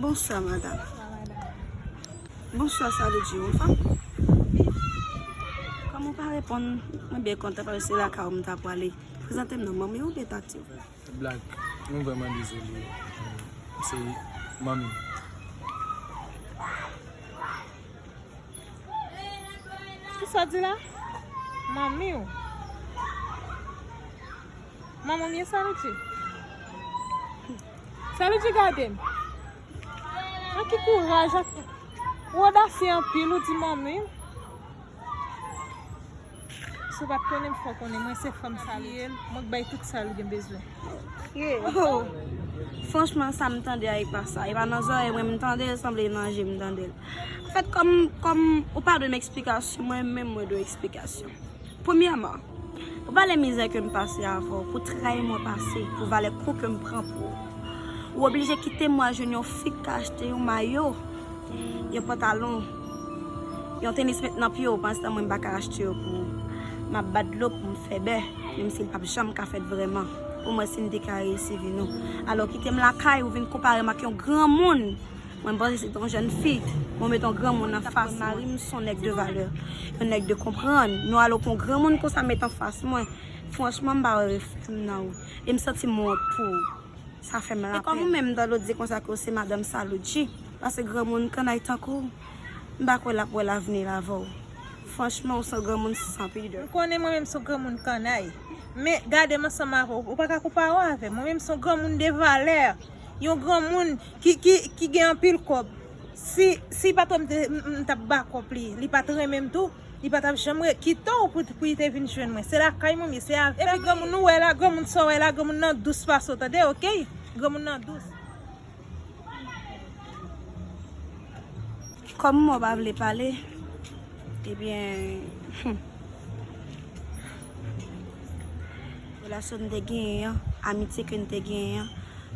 Bonswa madam Bonswa sa vle di ou fanm Kòm ou pa reponn mwen byen kontan paske se lakay ou m ta pwale Prezante m non manmi ou oubyen tati ou Blag Mwen vrèman dezole Se manmi m Kisa di la? Manmi ou. Manman mye sa li di? Sa li di gade m? An ki kouraj ak. Ou odasye anpil ou di manmi ou. Si w pat konnen m fè w konnen mwen se fanm salopri mwen k bay tout sa l gen bezwen. Ohh franchman sa m tande a e pa sa, e pa nan zòrèy mwen m tande l sanble e nan je m tande l. Anfèt kòm kòm ou pa dwe m eksplikasyon mwen menm mwen dwe w eksplikasyon. Premyèman, pou valè mizè ke m pase avè w, pou tray mwen pase, pou valè kou ke m pran pou ou, ou oblije kite m wè jwenn yon fi k ka achte yon mayo, yon pantalon. Yon tenis met nan pye w panstan mwen m pa ka achte yo pou ou Map bat dlo pou m fè bè menm si l pap janm ka fèt vrèman pou mwen si m te ka reyisi vi nou Alò kite m lakay ou vin konpare m ak yon granmoun Mwen m panse se t on jèn fi men w met on granmoun anfas mwen Sa konn mari m s on nèg de valè yon nèg de konprann Nou alò pou on granmoun konsa met anfas mwen Franchman m pa wè reflè m nan ou e m santi m wont pou ou. Sa fè m la pèn. E kòm ou menm Dolo di konsa ke w se madanm Salucci, pase granmoun kannay tankou w, m pa kwè l ap wè lavni l avè w. Franchman, w s on granmoun san pidè. M konnen mwen menm s on granmoun kannay. Men, gade m ansanm avè w, ou pa ka konpare w avè m. Mwen menm s on granmoun de valè. Yon granmoun ki gen anpil kòb. Si patwon m te, m t ap bakòp li. Li pa t renmen m tou. Li pa tap janm re, kite w pou y te vin jwenn mwen. Se lakay mwen m ye, se avè m. Epi granmoun ou wè la, granmoun sa w wè la, granmoun nan dous pase w tande ok. Granmoun nan dous. Kòm mò pa vle pale, ebyen humm. Relasyon n te genyen an, amitye ke n te genyen an,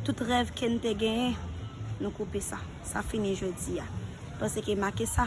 tout rèv ke n te genyen, nou koupe sa. Sa fini jodi a. Paske make sa.